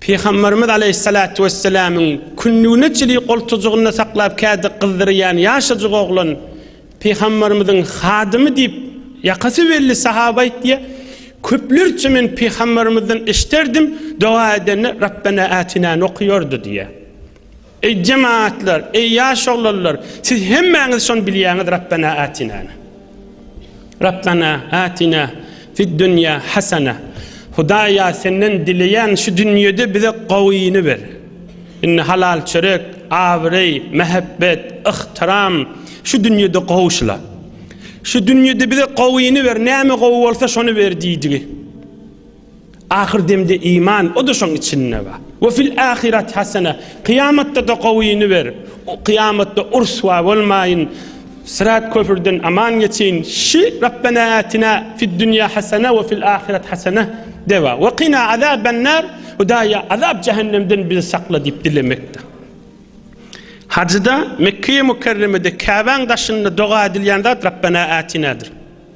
Pygamberimiz aleýhissalatu wesselamyň kündügine çili goltujygynda saklap kädi gyzdyrýan ýaşajyk oglan Pygamberimiziň hadymy diýip ýakasy belli sahaba aýtýar. Köplerçe men Pygamberimizden eşderdim doga edende Rabbena atina nokuýardy diýýär. Eý jemagatlar, eý ýaş oglanlar, siz hemmäňiz şony bilýäňiz Rabbena Atinany. Rabbena Atina fid dünýä hasana. Hudaýa senden dileýän şu dünýede bize gowyny ber. Indi halal çörek, abraý, mähebbet, yhtyram şu dünýede gowşula. Şu dünýede bize gowyny ber, näme gowy bolsa şony ber diýdigi. Ahyr demde iman, o-da şoň içinde bar. We fil ahirati hasene, kyýamatda-da gowyny ber, kyýamatda ryswa bolmaýyn, syrat köprüden aman geçeýin, şi Rabbena atina fid dunýa hasene we fil ahirati hasene de bar. We qina azaben nar, Hudaýa azap jähennemden bizi sakla diýip dilemekde. Hajyda Mekkeýe Mükerremede Käbäň daşynda doga edilýän zat Rabbena atinadyr.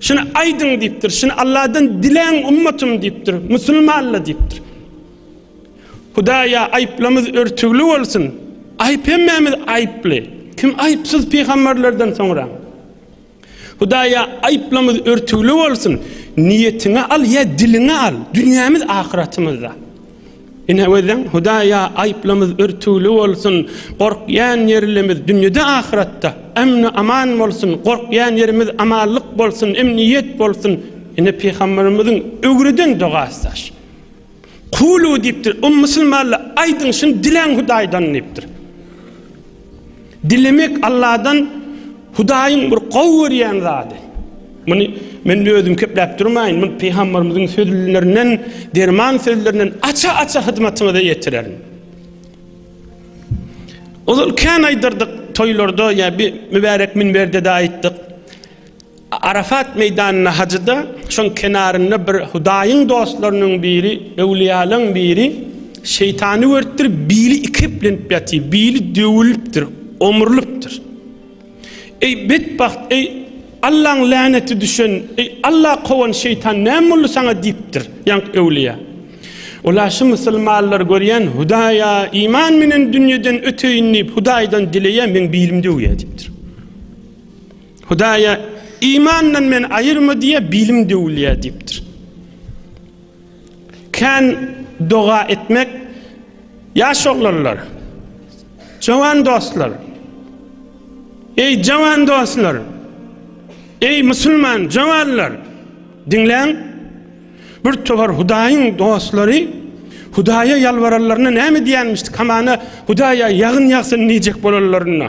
Şuny aýdyň diýipdir. Şuny Alladan diläň ummatym diýipdir. Musulmanla diýipdir. Hudaýa aýyplamyz örtügli bolsun. Aýyp hemmämiz aýyply. Kim aýypsyz pygamberlerden soňra? Hudaýa aýyplamyz örtügli bolsun. Niýetiňe al ýa diliňe al. Dünýämiz ahyratymyzda. Ine özüň Hudaýa aýyplymyz örtüwli bolsun, gorkýan ýerlimiz dünýede ahyratda emni aman bolsun, gorkýan ýerimiz amanlyk bolsun, emniýet bolsun. Ine pygamberimiziň öwreden dogasy daş. Kulu diýipdir, o musulmanlar aýdyň şuny diläň Hudaýdan diýipdir. Dilemek Alladan Hudaýyň bir gowy görýän zady. Muny men özüm kepläp durmaýyn, muny pygamberimiziň sözlerinden, derman sözlerinden aça-aça hyzmatyňyza ýetirerin. Ozal kän aýdyrdyk toýlarda ýa bir mübärek minberde-de aýtdyk. Arafat meýdanyna hajyda şoň kenarynda bir Hudaýyň dostlarynyň biri, öwliýalaň biri şeýtany görüpdir, bili ikeplenip ýatyr, bili döwülipdir, omrulypdyr. Eý betbagt, eý Allaň läneti düşen, eý Alla kowan şeýtan näme boldy saňa diýipdir, ýaňk öwliýa. Ola şu musulmanlar görýän Hudaýa iman menen dünýeden öteýin diýip Hudaýdan dileýä meň bilim döwýä diýipdir. Hudaýa imandan men aýyrma diýýär, bilim döwülýär diýipdir. Kän doga etmek ýaş oglanlar, jowan dostlar. Eý jowan dostlar, eý musulman jowanlar, diňläň. Bir towar Hudaýyň dostlary Hudaýa ýalbaranlaryna näme diýenmişdi? Kamana Hudaýa ýagyn ýagsyn diýjek bolanlarynda.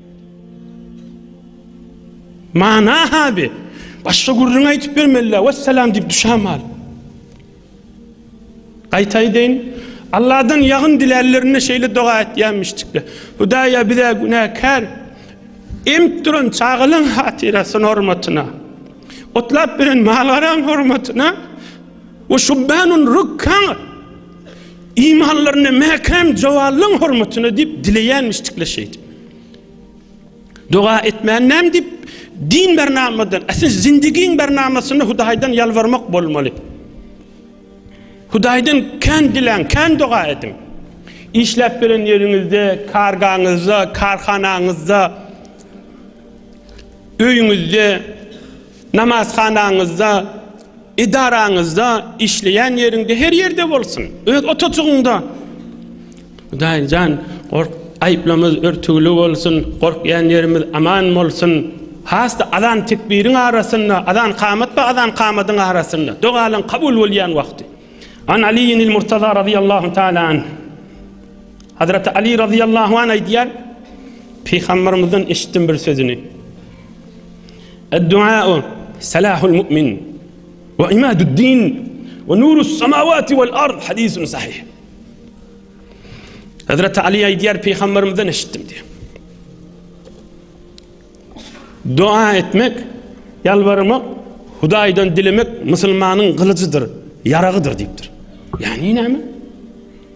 Mana habi. Başga gürrüň aýdyp bermeli. Wessalam diýip düşäm al. Gaýtaý deýin. Allahdan ýagyn dilärlerinde şeýle doga etýämişdikler. Hudaýa bize günäkär emip duran çagalyň hatyrasyna hormatyna. Otlap beren malgaran hormatyna. Ve şubbanun rukkan Imanlaryny mäkäm jowallan hormatyna diýip dileýänmişdikler şeýdip. Doga etmän näme diýip din bernamadan, äse zindigiň bernamasynda Hudaýdan ýalbarmak bolmaly. Hudaýdan kän diläň, kän doga ediň. Işläp gelen ýeriňizde, kargaňyzda, karhanaňyzda, öýüňizde, namazhanaňyzda, Edaraňyzda, işleýän ýeriňde, her ýerde bolsun, öz otujygyňda. Hudaýy jan, gork, aýyplamyz örtügli bolsun, gorkýan ýerimiz aman bolsun. Has-da azan-tekbiriň arasynda, azan-kamat we azan-kamadyň arasynda, dogalaň kabul bolýan wagty. An Aliyyin il-Murtaza razyýallahu taala anh, Hazreti Ali razyýallahu anh aýdýar, Pygambermizden eşitdim bir sözüni. Ad-duaa'u salahul mu'min we imadu'd-din we nurus samawati wal ard hadisun sahih. Hazrat Ali aýdýar peýgamberimizden eşitdim diýip. Dua etmek, ýalbarmak, Hudaýdan dilemek musulmanyň gylyjydyr, ýaragydyr diýipdir. Ýagny näme?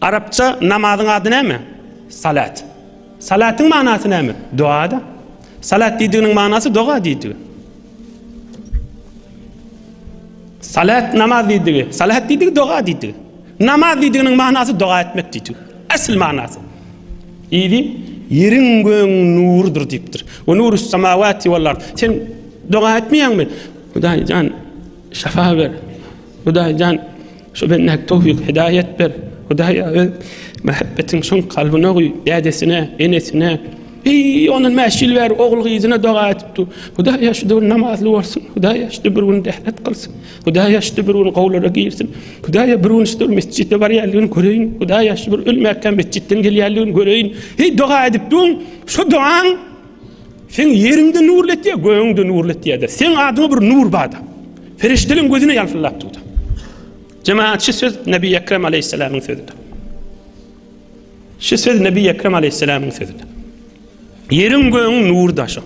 Arapça namazyň ady näme? Salat. Salatyň manasy näme? Doga-da. Salat diýdiginiň manasy doga diýdigi. Salat namaz diýdigi. Salat diýdigi doga diýdigi. Namaz diýdiginiň manasy doga etmek diýdigi. Asl manasy. Ýedi ýeriň göň nurudyr diýipdir. Wa nurus samawati wal ard. Sen doga etmeýäňmi? Hudaý jan şafa ber. Hudaý jan Şu bendäge towfyk hidaýat ber, Hudaýa öz mähebbetiň şoň kalbyna guý, dädesine, enesine, Eý, ondan mäş ýyl bäri ogul-gyzyna doga edipdi. Hudaýa şu bir namazly bolsun, Hudaýa şu bir gün dählet kylsyn, Hudaýa şu bir gün gowlara girsin, Hudaýa bir gün şu mesjide barýanlygyny göreýin, Hudaýa şu bir ölmäkkä mesjitden gelýänligini göreýin. Eý, doga edipdiň, şu dogaň Seň ýeriňde nurly etýär, gögüňde nurly etýär-de. Seň adyňa bir nur bar-da. Perişdeleň gözüne ýalpyldap dur-da. Jemaat, şu söz Nebi Ekrem aleyhisselamyň sözüdir. Şu söz Nebi Ekrem aleyhisselamyň sözüdir. Ýeriň gögüň nur daşy.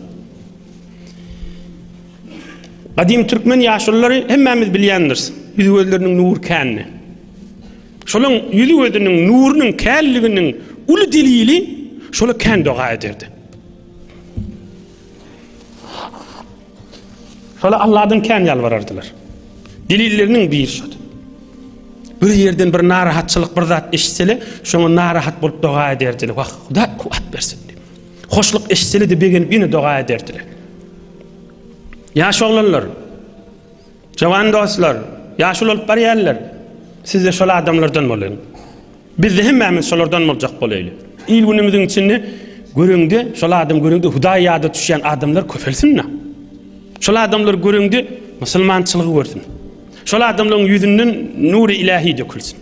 Gadim türkmen ýaşullary hemmämiz bilýändiris. Ýüz gözleriniň nur känni. Şolaryň ýüzi-gözüniň nurunyň känliginiň uly delili şola kän doga ederdi. Şola Allahdan kän ýalbarardylar. Delilleriniň biri şudy. bir yerden bir narahatçylyk bir zat eşitseli şoňa narahat bolup doga ederdiler wah huda kuwat bersin diýip hoşluk eşitseli de begenip ýene doga ederdiler ýaş oglanlar Jowan dostlar, ýaş ulalyp barýarlar. Siz-de şol adamlardan boluň. Biz-de hemmämiz şolardan boljak bolaýly. Il-günümiziň içinde göreňde, şol adam göreňde Hudaý ýada düşýän adamlar köpelsin-le. Şol adamlar göreňde musulmançylygy görsün. Şol adamlaryň ýüzünden nury ilähi dökülsin.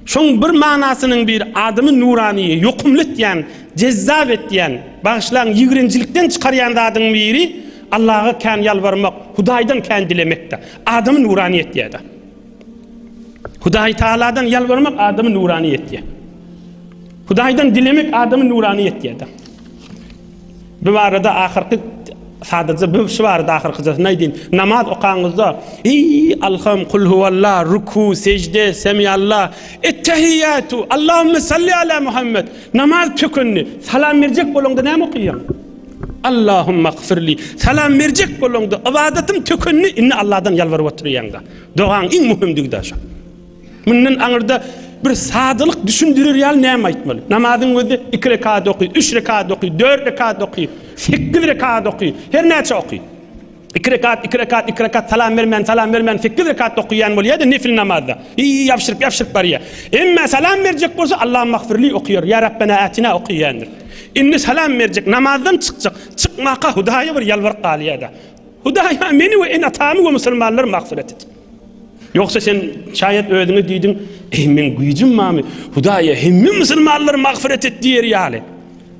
Şoň bir manasynyň bir adamy nurany, ýokumly etýän, jezzap etýän, bagyşlaň ýigrenjilikden çykarýan zadyň biri Allaga kän ýalbarmak, Hudaýdan kän dilemekde. Adamy nurany etýäda. Hudaý Tagaladan ýalbarmak adamy nurany etýär. Hudaýdan dilemek adamy nurany etýäda. Bu barada ahyrky sadaja bu şu barada ahyrkyjasyny aýdyn. Namaz okaňyzda eý alham kul huwalla ruku sejde semiyalla ettehiyatu Allahumma salli ala Muhammed namaz tökendi salam berjek bolaňda näme okaýaň? Allahumma gfirli salam berjek bolaňda ybadatym tökendi indi Allahdan ýalbaryp otyrýaňda dogaň iň möhümdigi daşa. Mundan aňyrda bir sadalyk düşündirer ýaly näme aýtmaly? Namazyň özi iki rekat oky, üç rekat oky, dört rekat oky, sekiz rekat oky, her näçe oky. Iki rekat, iki rekat, iki rekat salam bermän, salam bermän sekiz rekat okaýan bolýar-da nefil namazda. Iý, ýabşyryp, ýabşyryp barýar. Emma salam berjek bolsa Allahum magfirli okaýar, ýa Rabbena atina okaýandyr. Indi salam berjek, namazdan çykjak. Çykmaka Hudaýa bir ýalbaryp galýar-da. Hudaýa meni we ene-atamy we musulmanlary magfyrat et. Ýogsa sen, şaýat, özüňe diýdiň, Eý, meň güýjüm barmy? Hudaýa, Hemme musulmanlary magfyret et! diýer ýaly.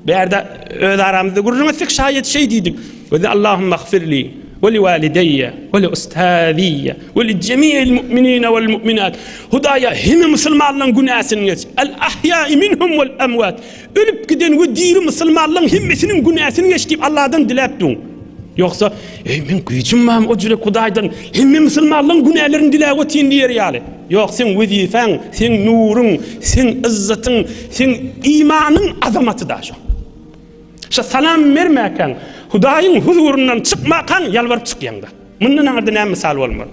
Bärde öz aramyzda gürrüň etsek, şaýat, şeý diýdik, Biz Allahumagfirli we liwalideýe we liustaziýe we lijemi'il mu'minine we lmu'minat. Hudaýa, hemme musulmanlaryň günäsini geç. Al-ahýa'i minhum wal-emwat. Ölüp giden we diri musulmanlaň hemmesiniň günäsini geç diýip Allahdan diläp duň. Ýogsa, eý men güýjüm mam o jürek Hudaýdan hemme musulmanlaň günälerini diläp otyn diýer ýaly. Ýok, seň wezipäň, seň nuruň, seň yzzatyň, seň imanyň azamaty da şo. Şo salam bermäkäň, Hudaýyň huzuryndan çykmakaň ýalbaryp çykýaňda. Mundan aňyrda näme mysal bolmaly?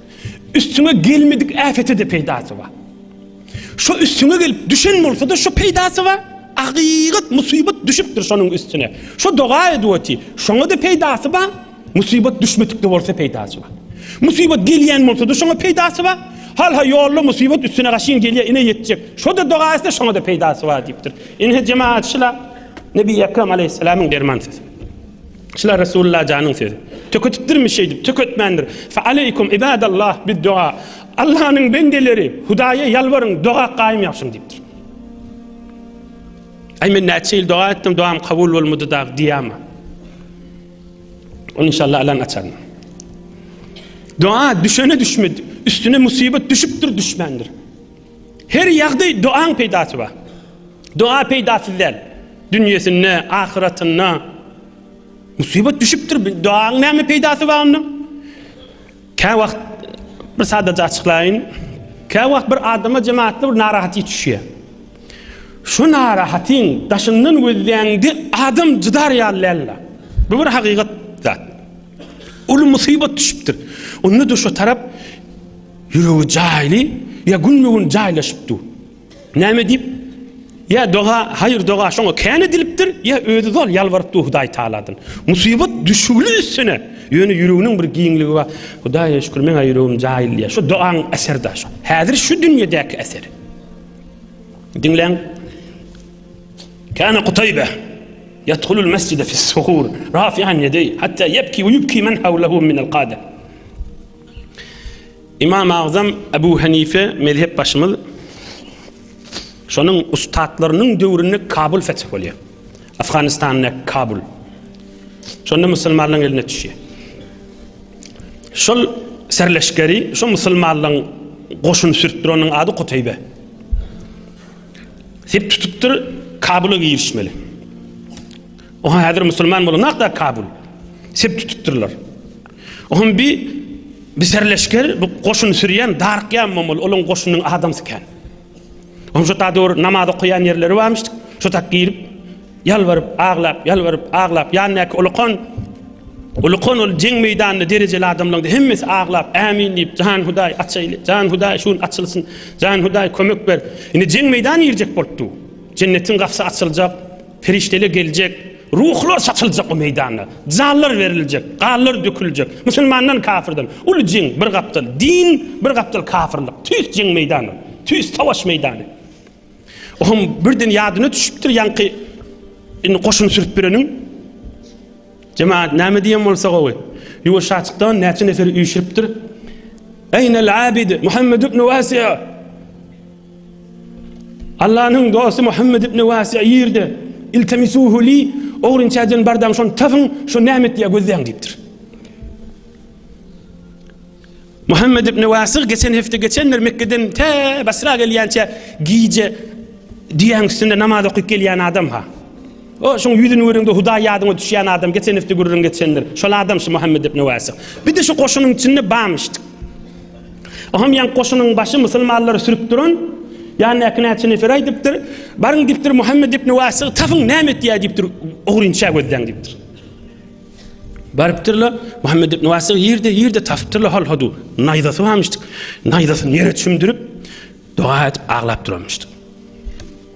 Üstüňe gelmedik äpete de peýdasy bar. Şo üstüňe gelip düşen bolsa-da şo peýdasy bar. Agygyt musybat düşüpdir şonuň üstüne. Şo doga edip oty. Şoňa da peýdasy bar. Musybat düşmedik de bolsa peýdasy bar. Musybat gelýän bolsa-da şoňa peýdasy bar. Hal-ha ýolda musybat üstüne gaşyn gelýär, ine ýetjek. Şo da doga etse şoňa da peýdasy bar diýipdir. Ine jemaat şula Nebi Ekrem aleyhisselamyň derman sesi. Şular Resulullah janyň sözi. Töketipdirmi şeýdip? Töketmändir. Fe aleýkum ibadallah bid doa. Allahnyň bendeleri, Hudaýa ýalbaryň, doga gaýym ýapyşyň diýipdir. Aý men näçe ýyl doga etdim, doam kabul bolmady dag diýýämi? Ony inşallah alan açan. Doa düşene düşmedi. Üstüne musibet düşüpdir, düşmändir. Her ýagdaý doaň peýdasy bar. Doa peýdasyz däl. Dünýesinde, ahyratynda musybat düşüpdir. Doaň näme peýdasy bar onda? Kä wagt bir sadaja açyklaýyn. Kä wagt bir adama jemaatda bir narahaty düşýär. Şu narahatyň daşyndan gözleýäňde adam jydar ýaly däldir. Bu bir hakykat zat. Uly musybat düşüpdir. Onda da şu tarap Ýüregi jaýly ýa günbe-gün jaýlaşyp dur. Näme diýip? Ýa doga, haýyr doga şoňa kän edilipdir, ýa özi zol ýalbaryp dur Hudaý Tagaladan. Musybat düşügli üstüne, ýöne ýüreginiň bir giňligi bar. Hudaýa şükür meň-ä ýüregim jaýly diýýär. Şu dogaň äseri-dä şo. Häzir şu dünýedäki äseri. Diňläň. Kana Kutaýbe yadhulul mesjide fis-suhur rafi'an yedeý hatta yebki we yubki men hawlahu min al-qada. Ymam Agzam Abu Hanife mezhep başymyz şonuň ussatlarynyň döwründe Kabul feth bolýar. Afganistanda Kabul. Şonda musulmanlaryň eline düşýär. Şol serleşgeri, şu musulmanlaryň goşun sürtdüreniň ady Kutaýbe. Sep tutupdyr, Kabula girişmeli. Oha häzir musulman bolan hakda Kabul. Sep tutupdyrlar. Ohm bi bi serleşger bu goşun sürýän Dark ýa mamul olaň goşunyň adamsy kän. Ohm şu ta döwür namaz okaýan ýerleri barmyş. Şu tak girip ýalbaryp, aglap, ýalbaryp, aglap ýandaky ulukan Ulukan ol jeň meýdanynda derejeli adamlaryň hemmesi aglap, ämin diýip, jan hudaý açaýly, jan hudaý şun açylsyn, jan hudaý kömek ber. Indi jeň meýdany girjek bolupdy. Jennetiň gapysy açyljak. Perişdeler geljek, ruhlar saçyljak o meýdanda, janlar beriljek, ganlar döküljek, musulmandan kafyrdan, uly jeň bir gapdal, din bir gapdal kafyrlyk, tüýs jeň meýdany, tüýs savaş meýdany. Oňam birden ýadyna düşüpdir ýaňky indi goşun sürüp bereniň. Jemaat näme diýen bolsa gowy. Ýuwaş açykdan näçe neferi üýşüripdir. Eýnel abid Muhammed ibn Wasi'a Allanyň dosty Muhammed ibn Wasi ýerde iltemisuhu li ogrynçadan bardaň şony tapyň şu näme etýär gözleň diýipdir. Muhammed ibn Wasi geçen hepde geçenler Mekke'den tä Basra gelýänçe gije diýen üstünde namaz okyp gelýän adam ha. O şoň ýüzüni görende Hudaý ýadyňa düşýän adam geçen hepde gürrüň geçenler. Şol adam şu Muhammed ibn Wasi. Bir de şu goşunyň içinde bamyşdyk. Oham ýaň goşunyň başy musulmanlary sürüp duran ýandakyna Çinefere aýdypdyr, Baryň diýipdir, Muhammet ibn Wasygy tapyň, näme etýär diýipdir, ugryny çägödläň diýipdir. Barypdyrlar, Muhammet ibn Wasygy ýerde, ýerde tapypdyrlar, hal hodu, naýzasy barmyşdyk. Naýzasyny ýere çümdürip, doga edip aglap duranmyşdyk.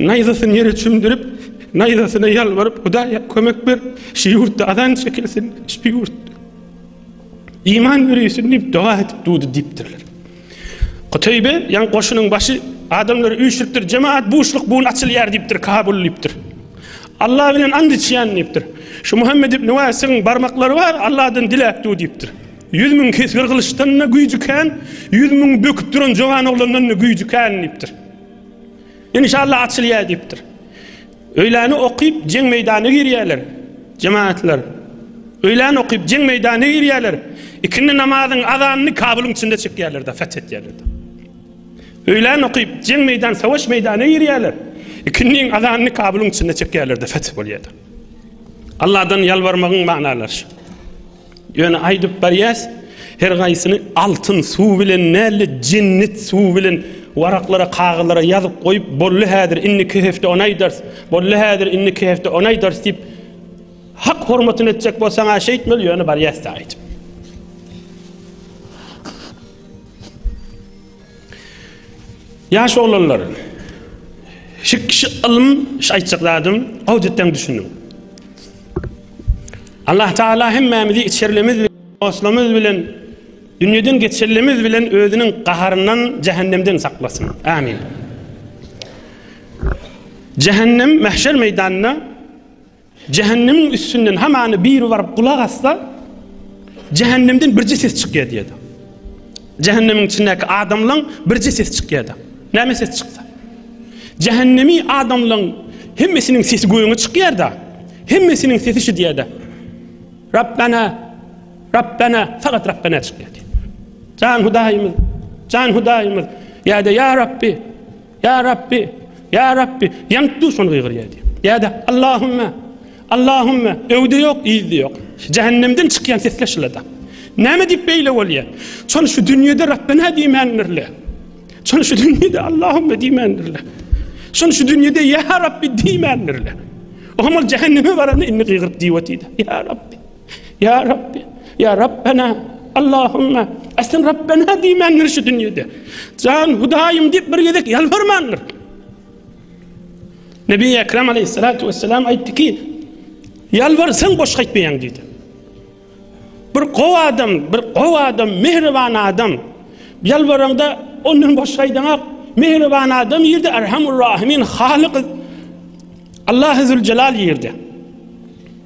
Naýzasyny ýere çümdürip, naýzasyna ýalbaryp, Hudaýa kömek ber, şu ýurtda azan çekilsin, şu ýurt iman ýöreýsin diýip doga edip dudy diýipdirler. Kutaýbe, ýan goşunyň başy adamlary üýşüripdir, jemaat buşluk bugun açylýar diýipdir, Kabul diýipdir. Allah bilen and içýän diýipdir. Şu Muhammed ibn Wasiň barmaklary bar, Allahdan diläp duý diýipdir. 100 müň kesgir gylyçdan-da güýjüken, 100 müň böküp duran jowan oglandan-da güýjüken diýipdir. Inşallah açylýar diýipdir. Öýläni okyp jeň meýdana girýärler. Jemaatlar. Öýläni okyp jeň meýdana girýärler. Ikindi namazyň azanyny Kabulyň içinde çekýärler de feth etýärler. Öýläni okyp jeň meýdan savaş meýdana girýärler. Ikindiň azanyny Kabulyň içinde çekýärler de feth bolýar. Allahdan ýalbarmagyň manalary şu. Ýöne aýdyp barýas, her gaýsyny altyn suw bilen nälle jennit suw bilen waraklara kagyzlara ýazyp goýup bolly häzir indiki hepde ony aýdars bolly häzir indiki hepde ony aýdars diýip hak hormatyny etjek bolsaň aşa aýtmaly ýöne barýas da aýdyp Ýaş oglanlar şu kişi ylym şu aýtjak zadym gawy düşündim Allah Taala hemmämizi içerlimiz bilen, dostlarymyz bilen, dünýeden geçerlimiz bilen özüniň gaharyndan, jähennemden saklasyn. Amin. Jähennem mahşer meýdanynda Jehennemiň üstünden hamany biri baryp gulak assa, Jehennemden birje ses çykýar diýdi. Jähennemiň içindäki adamlaryň birje sesi çykýar-da. Näme ses çyksa. Jähennemi adamlaryň hemmesiniň sesi göňe çykýar-da. Hemmesiniň sesi şu diýär-de. Rabbana, Rabbana, fakat Rabbana çykýar. Jan Hudaýymyz, Jan Hudaýymyz, ýa-da ýa Rabbi, Ýa Rabbi! Ýa Rabbi! Ýaňk duşman gygyrýardy. Ýa-da, Allahümme! Allahümme! Öwde ýok, yzda ýok. Jähennemden çykýan sesler şylada. Näme diýip beýle bolýar? Çony şu dünýede Rabbena diýmändirler. Çony şu dünýede Allahümme diýmändirler. Çony şu dünýede Ýa Rabbi diýmändirler. Ohamol jähenneme baranda indi gygyryp diýip otýar. Ýa Rabbi! Ýa Rabbi, ýa Rabbena, Allahumma, aslyn Rabbena diýmändir şu dünýede. Jan Hudaýym diýip bir gezek ýalbarmandyr. Nebi Ekrem aleyhissalatu vesselam aýtdy ki, ýalbarsaň boş gaýtmaýaň diýdi. Bir gowy adam, bir gowy adam, mehriban adam ýalbaranda ondan boş gaýdaňak. Mehriban adam ýerde Erhamur Rahimin Halyk Allah Zülcelal ýerde.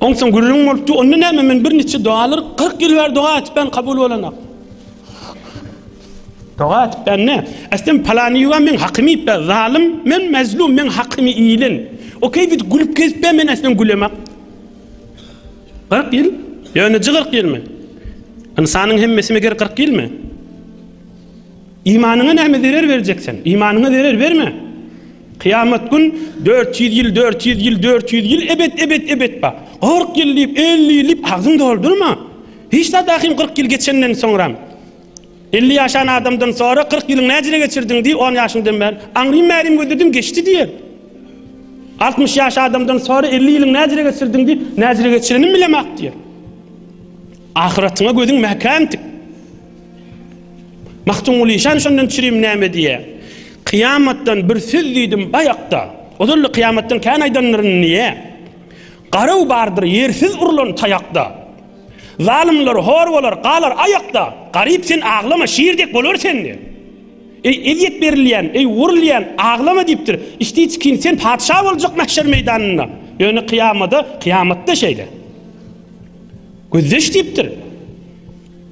Onsoň gürrüň bolupdy. Onda näme men bir niçe dogalar 40 ýyl bäri doga etip ben kabul bolanok. Doga etip ben ne? Estem palany ýuwa men hakymy etip ben zalym, men mezlum, men hakymy iýilen. O keýbit gülüp kesip ben estem gülemek. 40 ýyl? Ýönüji 40 ýylmy? Ynsanyň hemmesi meger 40 ýylmy? Imanyňa näme zerer berjeksen? Imanyňa zerer berme. Kyýamat gün dört ýüz ýyl, dört ýüz ýyl, dört ýüz ýyl, ebet, ebet, ebet bak. Kyrk ýyl diýip, elli ýyl diýip agzyňy doldurma. Hiç zat ahim kyrk ýyl geçenden soňram. Elli ýaşan adamdan sora, kyrk ýylyňy näjere geçirdiň diý, on ýaşyňdan bäri. Aňrym, märim gözledim, geçdi diýer. Altmyş ýaş adamdan sora, elli ýylyňy näjere geçirdiň diý, näjere geçirenim bilemok diýer. Ahyratyňa gözüň mäkäm tik. Magtymguly işan şondan çirim näme diýýä? Kyýamatdan bir söz diýdim baýakda. Ozal-da kyýamatdan kän aýdanlaryn niýe? Garaw bardyr ýersiz urlan taýakda. Zalymlar hor bolar, galar aýakda. Garyp sen aglama, şir dek bolar sende. Eý, ezýet berilýän, eý, urulýan, aglama diýipdir. Içdi çikin sen patyşa boljak mähşer meýdanynda. Ýöne kyýamada, kyýamatda şeýle. Gözdeş diýipdir.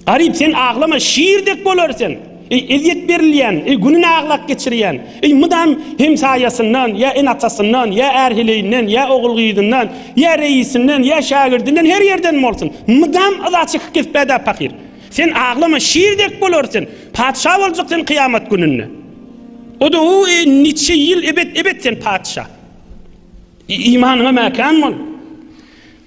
Garyp sen aglama şir dek bolar sen. Eý ezýet berilýän, eý gününi aglap geçirýän, eý mydam hemsaýasyndan, ýa ene-atasyndan, ýa är-heleýinden, ýa ogul-gyzyndan, ýa reisinden, ýa şägirdinden her ýerden bolsun, mydam yza çykyp gitpä-dä pahyr. Sen aglama şir dek bolar sen. Patyşa boljak sen kyýamat gününde. O-da o eý niçe ýyl ebet-ebet sen patyşa. Imanyňa mäkäm bol.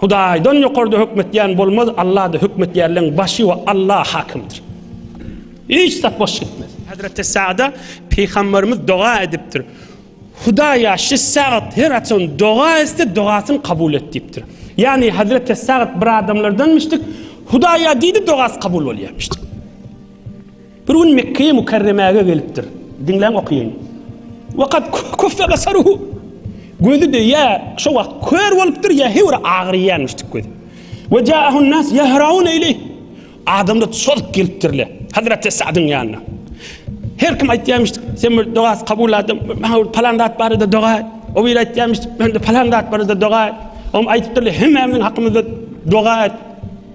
Hudaýdan ýokarda hökm etýän bolmaz, Allada hökm etýärleň başy we Alla hakymdyr. Hiç zat boş gitmez. Hazreti Sada Peygamberimiz doga edipdir. Hudaýa şu sagat her açan doga etse dogasyny kabul et dipdir. Yani Hazreti Sagat bir adamlardanmışdyk. Hudaýa diýdi dogasy kabul bolýarmyşdyk. Bir gün Mekgeýi Mükerremäge gelipdir. Diňläň okaýaýyn. Ve kad kuffe basaruhu. Gözi de ýa şo wagt kör bolupdyr, ýa heý bir agyrýanmyş tik gözi. Ve caahun nas yahraun eýleyh. Adamlar çozup gelipdirler. Hazreti Sa'dyň ýanyna. Her kim aýtýarmyş, sen bir doga kabul adam, maňa bir palan zat barada doga et. O biri aýtýarmyş, mende palan zat barada doga et. Oňa aýdypdyrlar, hemmämiziň hakymyzda doga et.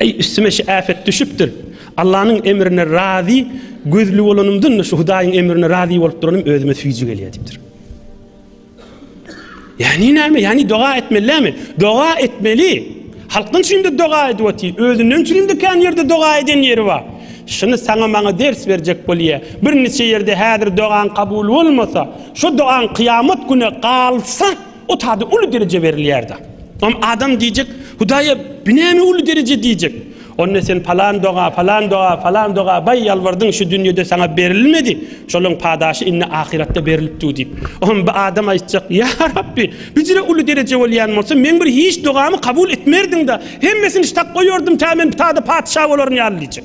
Eý, üstüme şu äpet düşüpdir. Allanyň emrine razy, gözli bolanymdan-da şu Hudaýyň emrine razy bolup duranym özüme süýji gelýär diýipdir. Ýagny näme? Ýagny doga etmelilämi? Doga etmeli. Halkyň üçin-de doga edip otyr. Özünden üçin-de kän ýerde doga eden ýeri bar. Şuny saňa maňa ders berjek bolýar. Birniçe ýerde häzir dogaň kabul bolmasa, şu dogaň kyýamat güne galsa, Otada uly dereje berilýärda. Om adam diýjek, Hudaýa bi näme uly dereje diýjek. Onda sen palan doga, palan doga, palan doga baý ýalbardyň şu dünýede saňa berilmedi. Şolaň padaşy indi ahyratda berilip dur diýip. Om bi adam aýtjak, Ýa Rabbi, bijire uly dereje bolýan bolsa meň bir hiç dogamy kabul etmerdiňda, hemmesini ştap goýardym tä men tada patyşa bolaryn ýaly diýjek.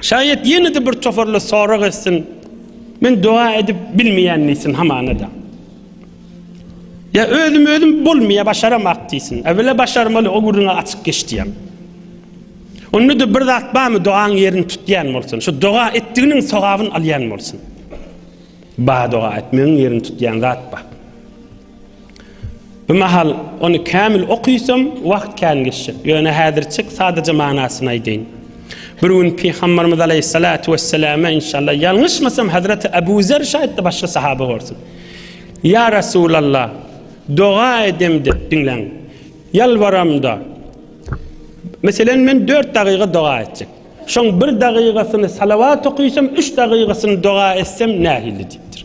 Şaýat ýene-de bir toparly sorag etsin, men doga edip bilmeýän diýsin hamana-da. Ýa özüm özüm bolmaýa başaramak diýsin. Äwele başarmaly o gürrüňe açyk geç diýen. Onda-da bir zat barmy dogaň ýerini tutýan bolsun. Şu doga etdiginiň sogabyny alýan bolsun. Ba doga etmegiň ýerini tutýan zat bar. Bu mahal ony kämil okyysam, wagt kän geçjek. Ýöne häzirçik sadaja manasyny aýdaýyn. Bir gün Pygamberimiz aleýhissalatu wesselama, inşallah, ýalňyşmasam, Hazreti Abu Zer şaýytdy, başga sahaba bolsun. Ýa Resulallah, doga edemde, diňläň, ýalbaramda, meselen, men dört dagyga doga etjek. Şoň bir dagygasyny salawat okyysam, üç dagygasyny doga etsem nähili diýipdir.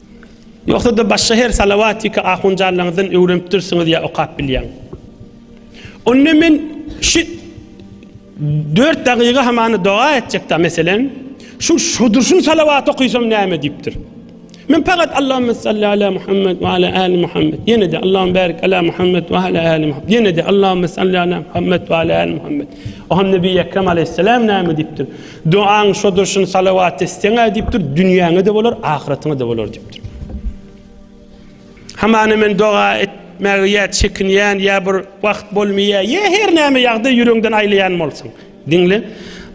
Ýogsa-da başga her Salawatiki ahunjanlaňyzdan öwrenipdirsiňiz ýa okap bilýäň. Onda men şu dört dagyga hamany doga etjekda meselen, şu şudurşun salawat okysam näme diýipdir. Men fakat Allahümme salli ala Muhammed ve ala ali Muhammed. Yine de Allahümme barik ala Muhammed ve ala ali Muhammed. Yine de Allahümme salli ala Muhammed ve ala ali Muhammed. O ham Nebi Ekrem aleyhisselam nâmi diptir. Dogaň şodur şun salawat isleňä diýipdir, dünýäňe-de bolar, ahyratyňa-da bolar diýipdir. Hamana men doga etmäge ýa çekinýän, ýa bir wagt bolmaýar, ýa her näme ýagdaý ýüregiňden aýlaýan bolsaň. Diňle.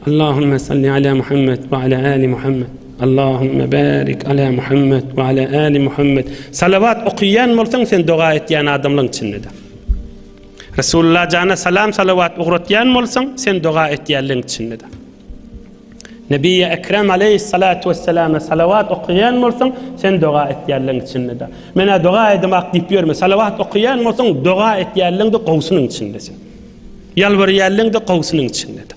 Allahumma salli ala Muhammed we ala ali Muhammed. Allahumma barik ala Muhammed we ala ali Muhammed. Salawat okaýan bolsaň, sen doga etýän adamlaryň içinde. Resulullah jana salam salawat ugratýan bolsaň, sen doga etýänleň içindedir. Nebiýi Ekrem aleyhissalatu vesselama salawat okaýan bolsaň, sen doga etýänleň içindedir. Menä doga edemak diýip ýörme, salawat okaýan bolsaň, doga etýänleň-de gowsunyň içindesin. Ýalbarýanleň-de gowsunyň içindedir.